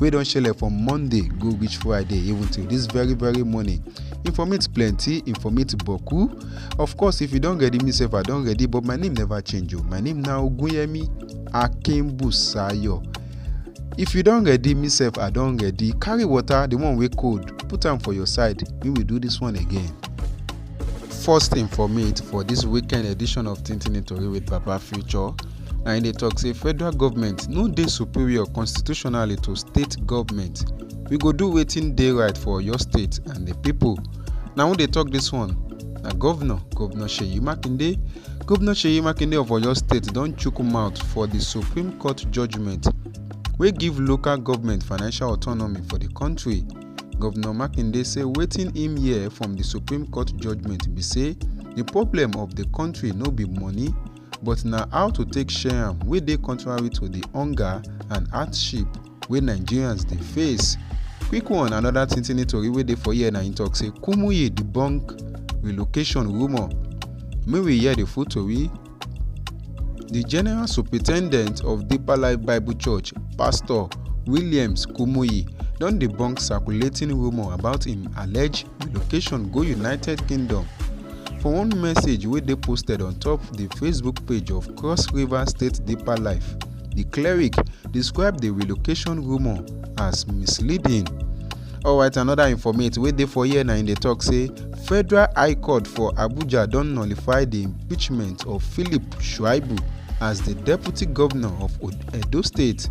wey don shele from monday go reach friday even till this very very morning informate plenty informate boku of course if you don ready me sef i don ready but my name never change o oh. my name na ogunyemi akinbusayo if you don ready me sef i don ready carry water the one wey cold put am for your side make we do this one again. first informate for this weekend edition of tintin tori with papa future na im dey talk say federal government no dey superior constitutionally to state government we go do wetin dey right for oyo state and the people. na who dey talk this one na governor governor seyi makinde governor seyi makinde of oyo state don chook mouth for the supreme court judgement wey give local government financial autonomy for the country governor makinde say wetin im hear from the supreme court judgement be say the problem of the country no be money but na how to take share am wey dey contrary to di hunger and hardship wey nigerians dey face. quick one anoda tintini tori wey dey for here na im tok say kumuyi debunk relocation rumour make we hear di full tori. di general superintendent of deeper life bible church pastor williams kumuyi don debunk circulating rumour about im alleged relocation go united kingdom. For one message wey dey posted on top di Facebook page of Cross River State Deeper Life, di cleric describe di relocation rumour as misleading. Alright, another informate wey dey for here na im dey talk say Federal High Court for Abuja don nullify di impeachment of Philip Shuaibu as di deputy governor of Edo State.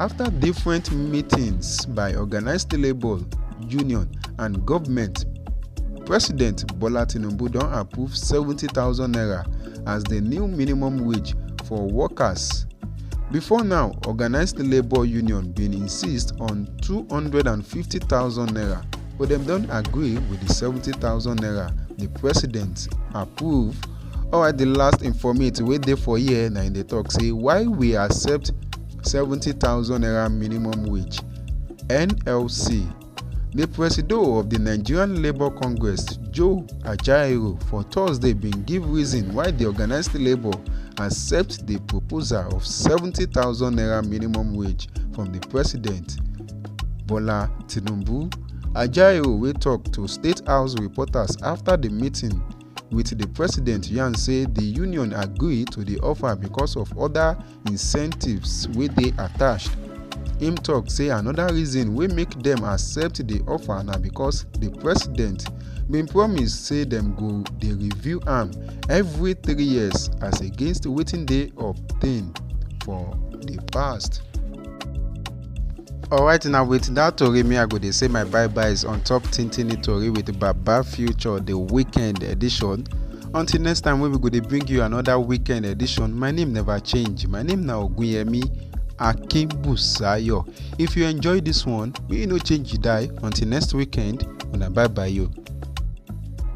After different meetings by organized labour union and government, President Bola Tinubu don approve 70,000 naira as the new minimum wage for workers. Before now, organized labour union bin insist on 250,000 naira but dem don agree with the 70,000 naira the president approve alright di last informate wey dey for here na im dey tok say why we accept 70000 naira minimum wage nlc di presido of di nigerian labour congress joe ajaero for thursday bin give reason why di organised labour accept di proposal of 70000 naira minimum wage from di president bola tinubu ajaero wey tok to state house reporters afta di meeting with di president yarn say di union agree to di offer because of oda incentives wey dey attached im tok say anoda reason wey make dem accept di offer na because di president bin promise say dem go dey review am every three years as against wetin dey obtained for di past. alright now with that tori me i go dey say my bye byes on top tintini tori with baba future the weekend edition until next time when we go dey bring you another weekend edition my name never change my name na ogunyemi akinbusayo if you enjoy this one may you no change you die until next weekend una bye bye yo.